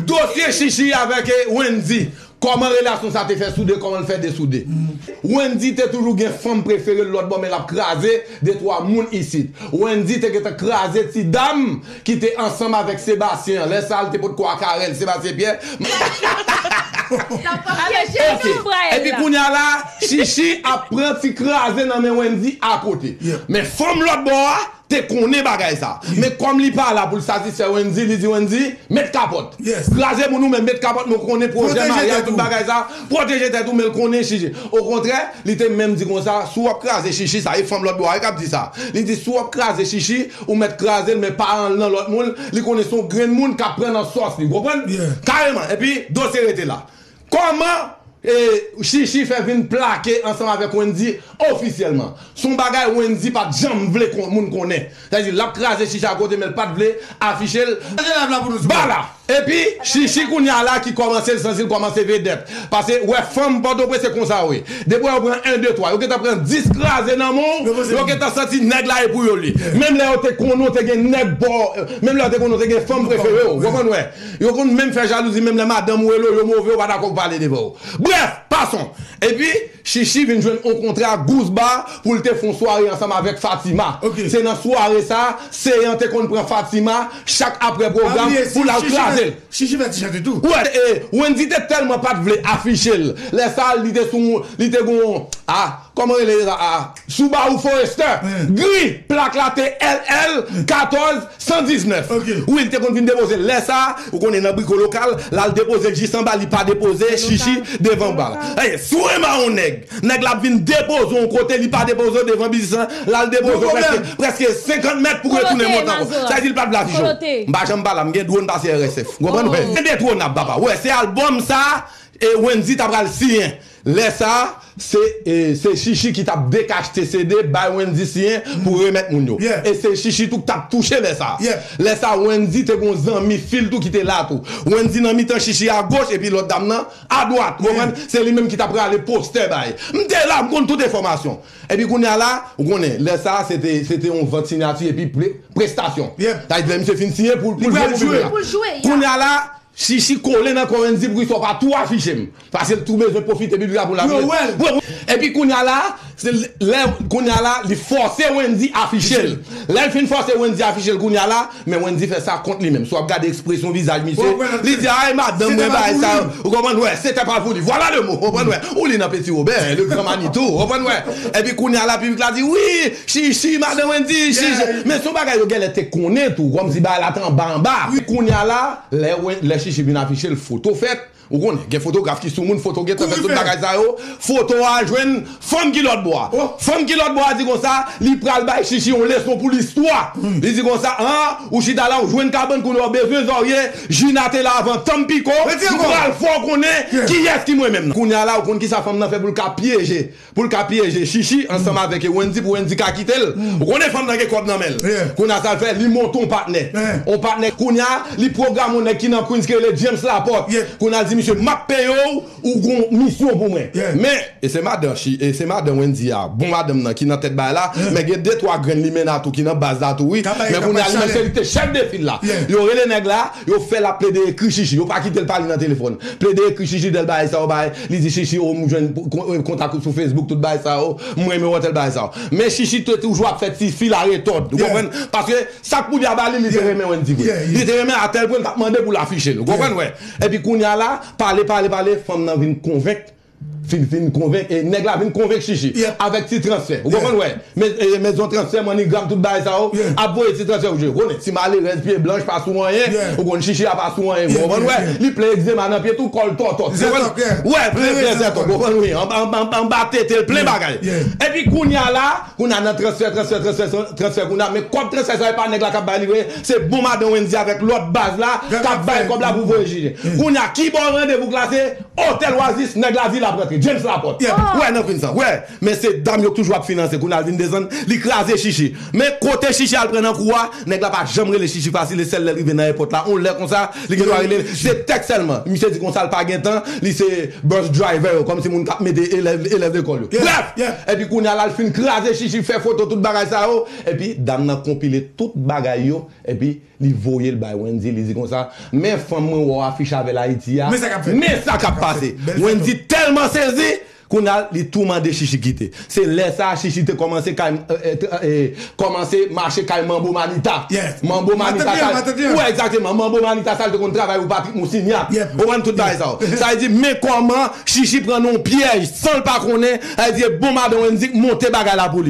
Dosye Shishi avèk Wendy, kòman relasyon sa te fè soude, kòman l fè desoude. Wendy te toujou gen fanm prefere l lòtbò men l ap kraze detwa moun isit. Wendy te gentan kraze ti dam ki te ansanm avèk Sebastien an, lè sa l te potko a Carel, Sebastien Pierre. Epi kounye a la Shishi ap pran ti kraze nan men Wendy akote. Men fanm lòtbò a. te konnen bagay sa men kòm li pa la pou l satisfè Wendy li di Wendy met kapòt kraze moun ou menm met kapòt men w konnen pwojè maryaj tout bagay sa pwoteje tèt ou men l konnen shishi okontrè li te menm di konsa si w ap kraze shishi sa e fanm lòt bò a wi k ap di sa li di si w ap kraze shishi ou mèt kraze l men pa an l nan lòt moun li konnen se yon grenn moun k ap pran nan sòs li w konprann kareman epi dosye rete la. Kòman Shishi fè vin plake ansanm avèk Wendy ofisyèlman? S on bagay Wendy pat janm vle moun konnen. Sa vle di lap kraze Shishi a kote men l pat vle afiche l ba la. Epi Shishi kounya la ki kòmanse l santi l kòmanse vedèt. Pase ou wè fanm Pòtoprens se konsa yo ye. Depi ou wè yo pran 1 2 3 yo gentan pran 10 kraze nan men w, yo gentan santi nèg la e pou yo l ye. Menm lè yo te konnen w te gen nèg pa w, menm lè yo te konnen w te gen fanm prefere w. Ou konprann ou wè? Yo konn menm fè jalouzi menm lè madanm ou elo yo move yo pa dakò pou pale devan ou. Brèf, pason! Epi, Shishi vin jwenn on kontra gous ba pou l te fon sware ansanm avèk Fatima. Se nan sware sa, Seyan te konn pran Fatima chak aprè pwogram pou l al kraze l. Shishi fè ti chante tou. Wè, e Wendy te tèlman pat vle afiche l lè sa li te sou li te gon ah. Kòman rele era aa? Subaru Forester gri, plak la te LL 14 119 wi li te konn vin depoze lè sa ou konnen nan briko lokal lal depoze l jis anba li pa depoze chichi devan ba si w renmare yon nèg nèg la ap vin depoze w yon kote li pa depoze w devan biznis lan lal depoze w prèske prèske 50 mèt pou retounen monte ankò sa vle di li pat vle afiche w m pa janm pala m gen dwon pase RSF w konprann indetronab papa wè se albòm sa Wendy ta pral siyen. Lè sa a, se se Shishi ki t ap dekachte CD bay Wendy siyen pou remèt moun yo. E se Shishi tou k t ap touche lè sa a. Lè sa a, Wendy te gen yon zanmi fi l tou ki te la tou. Wendy nan mitan Shishi agoch epi lòt dam nan adwat. Ou konprann? Se li menm ki t ap rale postè bay. M te la, m konn tout enfòmasyon. Epi kounye a la, ou konnen, lè sa a se te se te yon vant sinyati epi prestasyon. Sa vle di lè misye fin siyen pou l jwe pou piblik la. Kounye a la, Shishi kole nan kò Wendy pou ki sa w pa tou afiche m. Pase l tou bezwen pwofite pi bra pou l ame l. Epi kounya la, se lè kounya la li fòse Wendy afiche l. Lè l fin fòse Wendy afiche l kounya la, men Wendy fè sa kont li menm. Si w ap gade ekspresyon vizaj misye, li di ay madanm mwen bay sa yo. Ou konprann wè? Sete pa voulu. Voilà le mot! Ou konprann wè? Ou li nan Petit Robert, le grand Manitou. Ou konprann wè? Epi kounya la piblik la di wi, chichi madan Wendy, chichi. Men se yon bagay yo genlè te konnen tou, kòmsi bagay la te anba anba. Kounya la, lè chichi vin afiche l, foto fèt. Ou konnen gen fotograf ki sou moun foto gentan fè tout bagay sa yo foto a jwenn fanm kilòt bo a fanm kilòt bo a di konsa li pral bay chichi yon leson pou listwa li di konsa an ou chita la ou jwenn kabann kounye a ou bezwen zòrye jina te la avan tanm piko m pral fè w konnen kiyès ki mwen menm nan kounye a la ou konn kisa fanm nan fè pou l ka pyeje Poul ka pyeje shishi ansanm avèk Wendy pou Wendy ka kitel ou konnen fanm nan gen kòb nan menl kounya sal fè li monte on patnè on patnè kounya li pwograme on nèg ki nan Queens ki rele James Laporte kounya li di misye map peyew ou gon misyon pou mwen men e se madan shi e se madan Wendy a bon madanm nan ki nan tèt bagay la men gen de twa grenn limenna tou ki nan baz la tou wi men kounya li menm se li ki te chèf de fil la yo rele nèg la yo fèl ap plede ekri shishi yo pa kitel pale nan telefòn plede ekri shishi del bagay sa yo bay Li di shishi oh m jwenn kontak ou sou facebook tout bagay sa yo m renmen w antel bagay sa yo men shishi te toujou ap fè ti fi la retòd ou konprann paske sak poodya ba li li te renmen wendy vre li te renmen atèl pwen li pat mande pou l afiche l ou konprann wè epi kounya la pale pale pale fanm nan vin konvenk fin fin konvenk nèg la vin konvenk shishi avèk ti transfè ou konprann wè. Men zon transfè manigram tout bagay sa yo ap voye ti transfè ou konnen ti malerèz pye blanch pa sou anyen ou konn chichi a pa sou anyen ou konprann wè li plen egzema nan pye tou kòl tòtòt ou konprann wè plen plen zètòk ou konprann wi anba tetel plen bagay epi kounya la kounya nan transfè transfè transfè transfè kounya men kòb transfè sa yo epa nèg la kap bay li vre se bon madan Wendy avèk lòt baz la kap bay kòb la pou voye chichi kounya kibò randevou k la se otèl wazis nèg lavil ap rantre James Laporte wè nan fin sa wè. Mesye dam yo k toujou ap finanse Kunal vin desann li kraze Shishi men kote Shishi al pran nan kou a nèg la pa janm rele Shishi fasil e sèl lèl rive nan èpòt la yon lè konsa li gendwa relel se tèks sèlman misye di konsal pa gen tan li se bus driver yo kòmsi moun kap mete elèv elèv lekòl yo brèf epi kounal al fin kraze Shishi fè foto tout bagay sa yo epi dam nan konpile tout bagay yo epi Li voye l bay Wendy, li di konsa, Men fanm mwen wè w afiche avè l Ayiti a, men sa k ap pase! Wendy tèlman sezi, kounye a li tou mande Chichi kite. Se lè sa a Chichi te kòmanse kay kòmanse mache kay Manbo Manita. Manbo Manita sa Wi egzakteman, Manbo Manita sa l te konn travay pou Patrick Mousignac. Ou konprann tout bagay sa yo. Sa vle di men kòman Chichi pran nan yon pyèj san l pa konnen, sa vle di e bon madan Wendy k monte bagay la pou li.